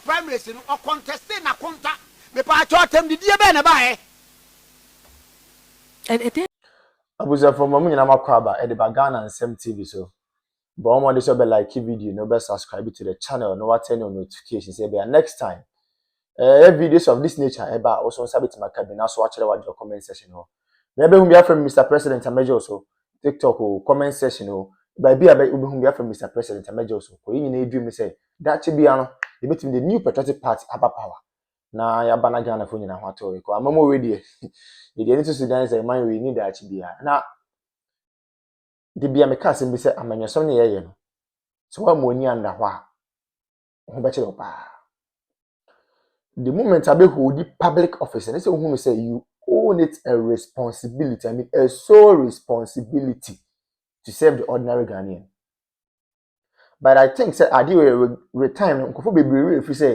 primaries no, ɔ contestee n'akonta. Mepaakyɛw, atɛmdidie bɛn na ɛbaeɛ? Ɛdeɛn. Abusuafoɔ mma mo nyinaa mo akwaaba ɛde ba Ghana nsɛm TV so. Bɔ wo mmɔden sɛ wobɛ like video na wobɛ subscribe to the channel na woatɛn on notification sɛ ɛbɛyɛ a next time ɛɛ videos of this nature ɛba a wo nso wo nsa bɛtumi aka bi na so woakyerɛ w'adwene wɔ comment section hɔ. Na ɛbɛhu bi afrɛ me Mr President a mɛgye wo so. TikTok o, comment section o, baabi a wobɛhu bi afrɛ me Mr President a mɛgye wo so. Kɔ yɛn nyinaa adwuma mu sɛ daakye biara no yɛbɛtumi de new patriotic party aba power na yɛaba na Ghana fo nyinaa ho atɔ yɛ kɔ. Ama mo wei deɛ, yɛde ani to so dan sɛ man wei ni daakye biara. Na de bia meka asɛm bi sɛ amanyɔsɛm ne yɛyɛ no, sɛ wɔammu ani anda hɔ a, wo ho bɛkyerɛ wo paa the moment abɛhold public office ɛne sɛ wohunu sɛ you own it a responsibility i mean a sole responsibility to serve the ordinary ghanaian but i think sɛ adeɛ wɔ retime no nkurɔfoɔ bebree wɔ ɛfiri sɛ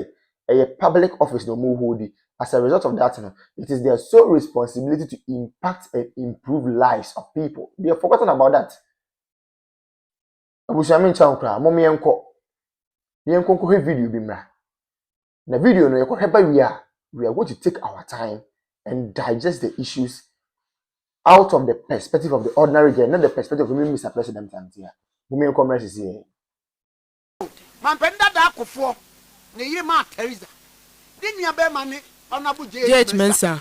ɛyɛ public office na wɔn hold as a result of that no it is their sole responsibility to impact and improve lives of people they have forgotten about that abusua menkyɛ wo koraa mom yɛnkɔ yɛnkɔ nkɔhwɛ video bi mmra na video no yɛkɔhwɛ ba wie a we are going to take our time and digest the issues out of the perspective of the ordinary girl not the perspective of even mr president antia mom yɛnkɔ mmra sisi yɛn mampanin dada akofoɔ ne yere maa teresa ne nua bɛrima ne honourable jh mensah.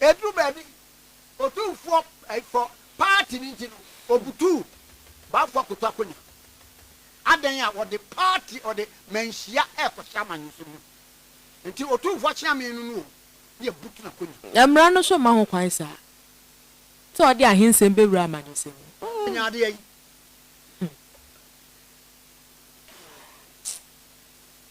Eduu baabi, Otumfoɔ fɔ paati no nti no, obutuu Bafo akoto akonya. Adɛn a wɔde paati wɔde manhyia rekɔhyɛ amanyɔsɛm mu. Nti Otumfoɔ Akyeame no no o ne yɛbutu n'akonya. Na mmara no nso mma ho kwan saa sɛ ɔde ahensɛm bɛwura amanyɔsɛm mu. Oh! Nya adeɛ yi. Hmm.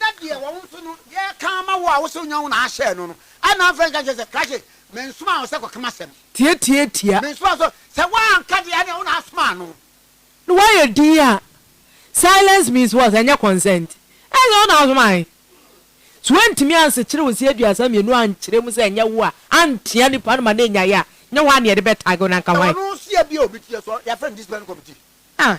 na deɛ wɔn nso no yɛreka ama wo a wosɛ wonya wo na ahyɛ no no, ɛna afei nka kyerɛ sɛ, Krashe, mensomaa wo sɛ kɔka m'asɛm. Tiatiatia. Mensomaa wo sɛ, sɛ woanka deɛ ɛneɛ wo na asomaa no. No wayɛ dinn a, silence means what? Ɛnyɛ consent. Ɛnyɛ wo na asomae. Sɛ woantumi ansekyere wo se aduasa mmienu ankyerɛ mu sɛ ɛnyɛ wo a, antea nipa no ma no anyae a, nyɛ hɔ a na yɛde bɛtag wo na anka Sɛ hwan? ɔno nso yɛ bi a obi teɛ so, yɛfrɛ no discipline committee. Ah!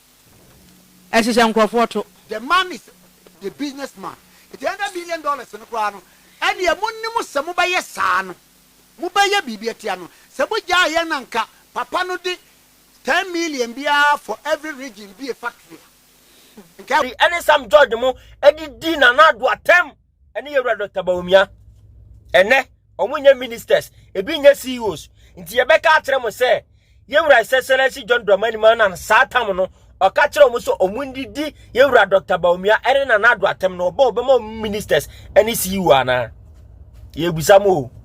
ɛhyehyɛ nkurɔfoɔ to. The man is the business man nti hundred million dollars no koraa no ɛdeɛ mo nim sɛ mo bɛyɛ saa no mo bɛyɛ biribi atia no sɛ mo gyaa yɛn na nka papa no de ten million biara for every region bue factory a nka. Ɛne Sam George mo adidi Nana Addo atɛm. ɛne yɛwura dr bawumia ɛnɛ wɔn nyɛ ministers ebi nyɛ ceos nti yɛbɛka akyerɛ mo sɛ yɛwura sɛsɛlɛ si john dramani ma na saa tam no ɔka kyerɛ wɔn sɛ wɔn ndidi yɛwura dr bawumia ɛne nana ado atɛm no ɔbɔ ɔbɛma wɔn ministers ɛne ceo anaa yɛbisa mo o.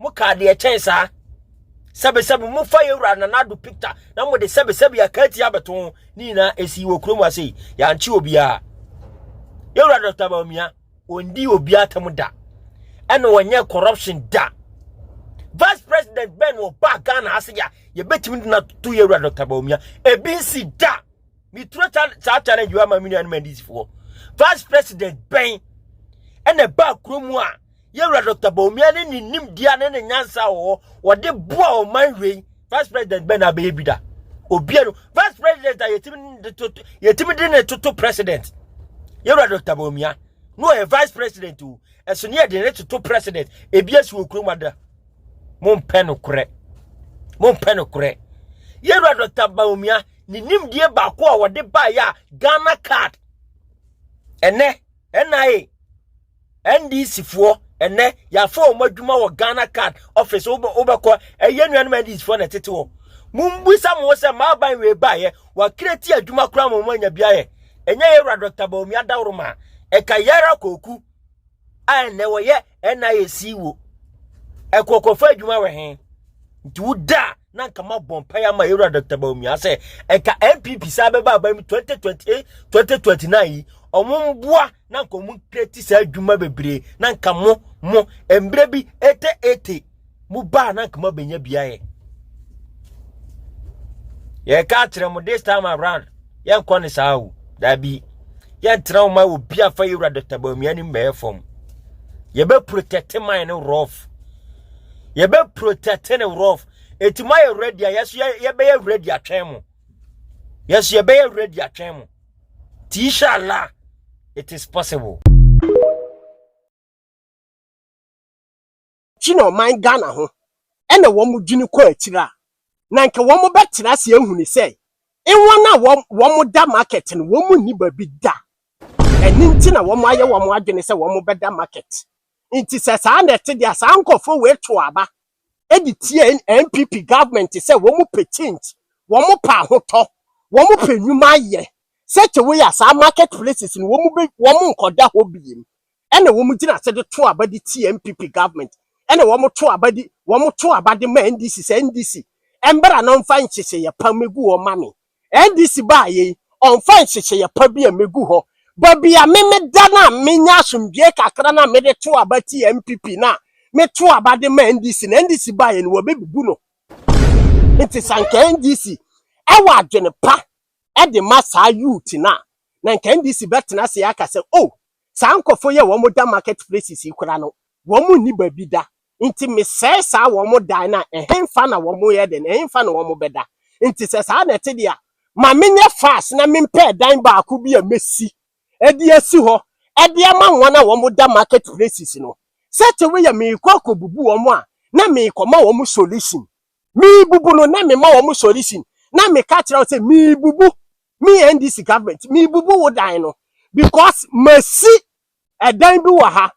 Mokaa deɛ ɛkyɛn saa. Sɛbesɛbe mofa yɛn wura Nana Addo picture na mode sɛbesɛbe aka atia abɛto ho ne nyinaa ɛsii wɔ kurom ha sei. Yɛankye obiara. Yɛn wura Dr. Bawumia ɔndi obiara atam da ɛna ɔnyɛ corruption da. Vice President Ben ɔbaa Ghana ha sɛ yɛbɛtumi de no ato yɛn wura Dr. Bawumia. Ebi nsi da. Meturo saa challenge wɔ ama me nuanom NDCfoɔ. Vice President Ben ɛna ɛbaa kurom a yɛwura Dr. Bawumia ne ne nimdeɛ ne ne nyansa wɔ hɔ wɔde boa ɔman wei vice president bɛn na abɛyɛ bi da obia no vice president a yɛtumi de toto yɛtumi de ne toto president yɛwura Dr. Bawumia no ɔyɛ vice president o ɛso ne yɛde ne toto president ebi asi wɔ kurom ada mompɛ no korɛ mompɛ no korɛ yɛwura Dr. Bawumia ne nimdeɛ baako a wɔde baeɛ a Ghana card ɛnɛ NIA NDCfoɔ ɛnɛ yɛafa wɔn adwuma wɔ Ghana card office wobɛkɔ ɛyɛ nuanom NDCfoɔ na ɛtete hɔ mumbisa mo sɛ maaban wei baayɛ wakira ti adwuma koraa ma wɔn anya bi ayɛ ɛnyɛ yɛ wura Dr. Bawumia Adaworoma ɛka yɛra kɔku a ɛnɛ wɔyɛ NIAC wo ɛkɔkɔfa adwuma wɔ he nti woda na nka ma bɔ mpaeɛ ama yɛwura Dr. Bawumia sɛ ɛka NPP saa bɛba aban mu 2028 2029 yi ɔmo mboa na nka wɔn kreti saa adwuma bebree na nka mo mo mbrɛ bi ete ete mo baa na nka mo abɛnya biayɛ yɛka akyerɛ mo this time around yɛnkɔ ne saa o daabi yɛntena wo ma wɔ bi afa yɛwura dɔkta baamia ne mmɛɛ fam yɛbɛprotɛte man no rof yɛbɛprotɛte ne rof ɛti moayɛ ready a yɛso yɛbɛyɛ ready atwɛn mo yɛso yɛbɛyɛ ready atwɛn mo Inshallah, it is possible. China ɔman Ghana ho ɛna wɔn dwene kɔ akyiri a, na nka wɔn bɛtena ase ahu ne sɛ, wɔn a wɔn wɔn da market no wɔn nni baabi da. Ɛne nti na wɔn ayɛ wɔn adwene sɛ wɔn bɛda market. Nti sɛ saa na ɛte deɛ saa nkɔfoɔ wei to aba de tia NPP government sɛ wɔn pɛ change, wɔn pɛ ahotɔ, wɔn pɛ nnwuma yɛ, such a way a saa market places no wɔn bɛ wɔn nkɔda hɔ biem. Ɛna wɔn gyina ase de to aba de tia NPP government. Ɛna wɔn to aba de wɔn to aba de ma NDC sɛ NDC mbra na ɔmfa nhyehyɛeɛ pa mmɛgu hɔ ma me. NDC baayɛ yi ɔnfa nhyehyɛeɛ pa bi a mɛgu hɔ ba bi a me meda no a menya asomdwoeɛ kakra no a mede to aba tia NPP no a meto aba de ma NDC no NDC baayɛ no wɔbɛbubu no nti sɛ anka NDC ɛwɔ adwene pa de ma saa youth no a na anka NDC bɛtena ase aka sɛ oh saa nkɔfo yɛ wɔn da market places yi koraa no wɔn nni baabi da Nti mesɛe saa wɔn dan no a, ɛhefa na wɔyɛ dɛn? Ɛhefa na wɔbɛda? Nti sɛ saa na ɛte deɛ a, ma menyɛ fast na mempɛ dan baako bi a mɛsi de asi hɔ de ama wɔn a wɔda market places no. Sɛte wo yɛ merekɔ akɔbubu wɔn a, na merekɔma wɔn solution. Merebubu no, na mema wɔn solution. Na meka kyerɛ wo sɛ merebubu, me NDC government, merebubu wo dan no because masi dan bi wɔ ha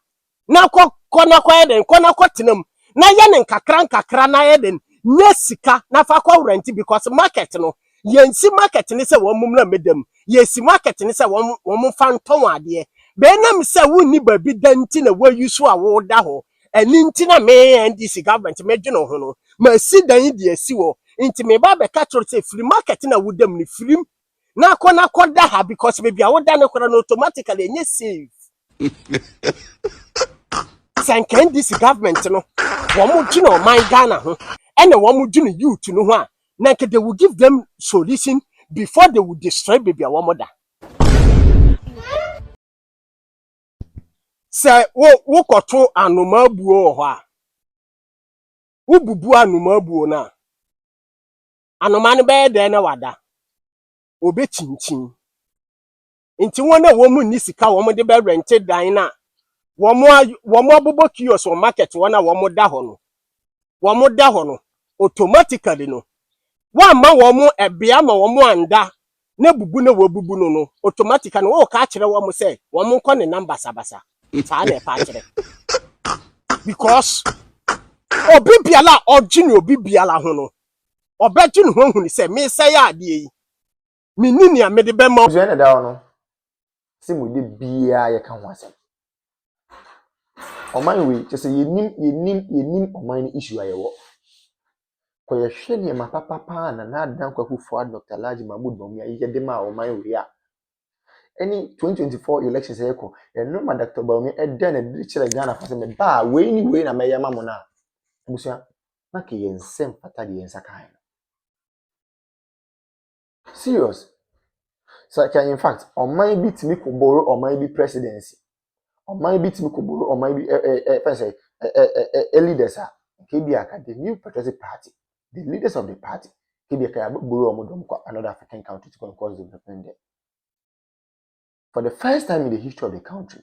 na kɔ kɔ na kɔyɛ dɛn kɔ na kɔtena mu na yɛ no nkakra nkakra na yɛ dɛn nya sika na fa kɔ rent because market no yɛnsi market ne sɛ wɔn mmra mmɛda mu yɛsi market ne sɛ wɔn wɔn mfa ntɔ wɔn adeɛ bɛnam sɛ wonni baabi da nti na wɔayi so a wɔda hɔ ɛne nti na me NDC government medwene ho no masi dan de asi hɔ nti meba abɛka kyerɛ sɛ firi market na wodam no firim na akɔ na akɔ da ha because baby a woda no kora no automatically enye save. Sɛ nka NDC government no wɔn gyina ɔman Ghana ho ɛna wɔn gyina youth no ho a na nka they will give them solution before they will destroy baby a wɔn da. Sɛ wo wokɔto anomaa buo wɔ hɔ a wobubu anomaa buo no a anoma no bɛyɛ dɛn na wada? Obekyinkyin. Enti wɔn a wɔn nni sika a wɔde bɛrɛnte dan no a wɔabobɔ kiosk wɔ market hɔ no a wɔda hɔ no, wɔda hɔ no, automatically no, wɔamma wɔn ɛbea ma wɔn anda na bubu na wɔabubu no no, automatically no, wɔreka akyerɛ wɔn sɛ wɔn nkɔ ne nam basabasa. Saa na ɛpa akyerɛ. Because obi biara a ɔgye ne obi biara ho no, Ɔbɛgye ne ho ahu no sɛ meresɛe adeɛ yi. Menni nea mede bɛma. Abusua na ɛda hɔ no, sɛ mu de biara yɛka ho asɛm. Ɔman wei, kyɛ sɛ yɛnim, yɛnim, yɛnim ɔman no issue a yɛwɔ. Kɔ yɛhwɛ nneɛma papa paa a Nana Addo Dankwa Akufo Addo, Dr. Alhaji Mahmood Bawumia yɛ de maa ɔman wei a, ɛne 2024 elections a yɛkɔ, ɛno ma Dr. Bawumia ɛdɛɛ no adi de kyerɛɛ Ghanafoɔ sɛ mebaa a, wei ne wei na mɛyɛ ama mo no a, abusua, na kɛ yɛn nsa mfata deɛ yɛn nsa kaeɛ no. Serious. Sɛ kɛ in fact ɔman bi tumi kɔ boro ɔman bi presidency, ɔman bi tumi kɔ boro ɔman bi ɛ ɛ ɛ fɛn sɛ ɛ ɛ ɛ ɛ leaders a, nka ebi aka the new patriotic party, the leaders of the party, nka ebi aka yɛ abɛboro wɔn dɔm kɔ another African country to go and cause development there. For the first time in the history of the country,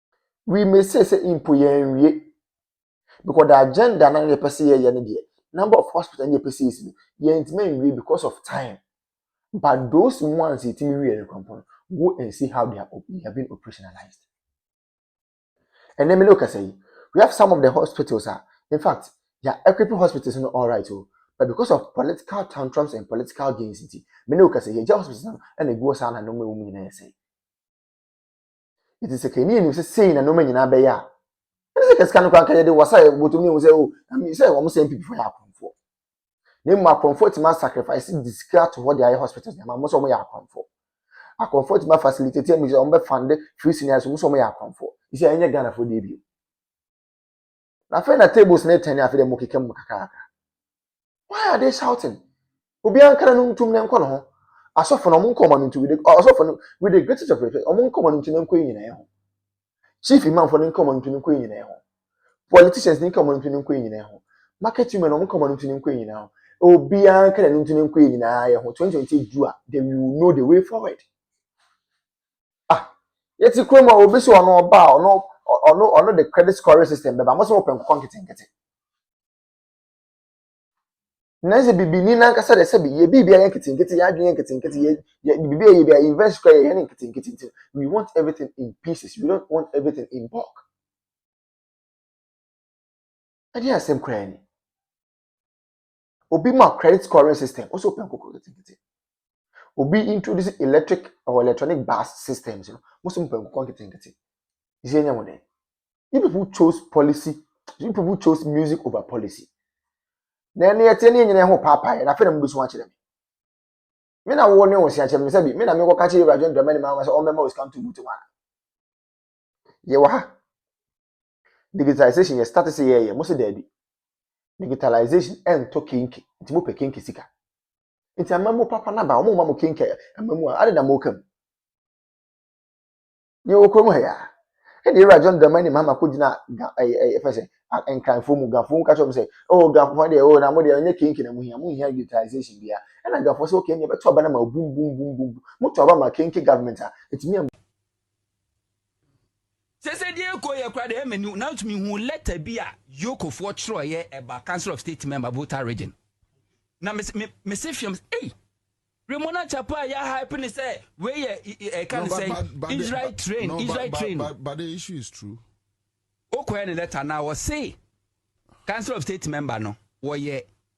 We may say sɛ mpo yɛn wie because the agenda na yɛpɛ sɛ yɛyɛ no deɛ number of hospital na yɛpɛ sɛ yɛsi no yɛntumi nwie because of time but those ones yɛtumi wie no kɔmpɔ no go and see how they are, they have been operationalized ɛnɛ mi ne okasa yi we have some of the hospitals a in fact yɛ equipping hospitals no all right o oh. but because of political tantrums and political gains nti mi ne okasa yi yɛ gya hospitals no ɛna egu hɔ saa na nneɛma ɛwɔ mu nyinaa yɛ sɛn. Enti sɛ kani anim sɛ sei na nneɛma nyinaa bɛyɛ a, ɛne sɛ kasika no koraa nka yɛde wasa bɔtɔm ne ɛhu sɛ o sɛ wɔn sɛ mpipifoɔ yɛ akorɔmfoɔ na mmom akorɔmfoɔ atumi asacrifice de sika ato hɔ de ayɛ hospitals nneɛma mo sɛ wɔn yɛ akorɔmfoɔ akorɔmfoɔ atumi afacilitate amu sɛ wɔn bɛ fund free seniors mo sɛ wɔn yɛ akorɔmfoɔ sɛ ɛnyɛ Ghanafoɔ deɛ bio na afei na tables no retɛn afei dɛ mo keka mu kakraka why are they shouting obi ankara no ntum ne nkɔ ne ho asɔfo no ɔmo nkɔ ɔmo no ntum ɔsɔfo no with the greatest of respect ɔmo nkɔ ɔmo no ntum ne nkɔ yi nyinaa ho chief imamfo no nkɔ ɔmo no ntum ne nkɔ yi nyinaa ho politicians no nkɔ ɔmo no ntum ne nkɔ yi nyinaa ho market women ɔmo nkɔ ɔmo no ntum ne nkɔ yi nyinaa ho obi ankara no ntum ne nkɔ yi nyinaa yɛ ho twenty twenty du a they will know the way forward. Ah, yɛte kurom a obi sɛ ɔno ɔba a ɔno ɔno ɔno de credit scoring system bɛba mo sɛ wɔpɛ nkokɔ nketenkete nanso bibini nankasa de sɛbi yɛ biribi ayɛ nketenkete yɛ adwene yɛ nketenkete yɛ yɛ biribi ayɛ bi a invest kora yɛ yɛ ne nketenkete nti we want everything in pieces we don't want everything in bulk ɛde asɛm kora ni obi ma credit scoring system ɔsɛ ɔpɛ nkokɔ nketenkete obi introduce electric or electronic bus systems no mo sɛ mo pɛ nkokɔ nketenkete ɛsɛ ɛnyɛ mo dɛ you people chose policy you people chose music over policy na ɛne ɛteɛ ne ɛnyina ɛho paapaeɛ na afei na mo bɛsu akyerɛ me me na wo ne wo se akyerɛ me sɛ bi me na mekɔ ka kyerɛ Ewura John Dramani Mahama sɛ ɔmmɛma osika nto buti wa yɛwɔ ha Digitalisation yɛ start sɛ yɛyɛ mo sɛ daabi digitalisation ɛntɔ kenke nti mo pɛ kenke sika nti ama mo papa naba wɔn ma mo kenke ama mu a adi na mo ka mu yɛ wɔ kurom ha yɛ a ɛna ewura John Dramani Mahama ko gyina ga ɛyɛ ɛyɛ fɛ sɛ nkranfoɔ mu gafoɔ mu ka kyerɛ mo sɛ oh gafoɔ deɛ oh na mo deɛ ɔnyɛ kenke na mo hia mo hia digitalisation bia ɛna gafoɔ sɛ okay ɛna ɛbɛto aba na ma bum bum bum bum mo to aba ma kenke government a ɛtumi a sɛ sɛ deɛ ɛkɔ yɛ koraa deɛ ɛyɛ m'ani nanso mehu lɛta bi a yokofoɔ twerɛeɛ ɛba council of state member volta region na mese me, me se fiam ei remona chapa a yɛ hype ne sɛ wei yɛ ɛka ne sɛ israel train no, israel but, train but, but the issue is true wokɔɛ ne lɛta na wɔse council of state member no wɔyɛ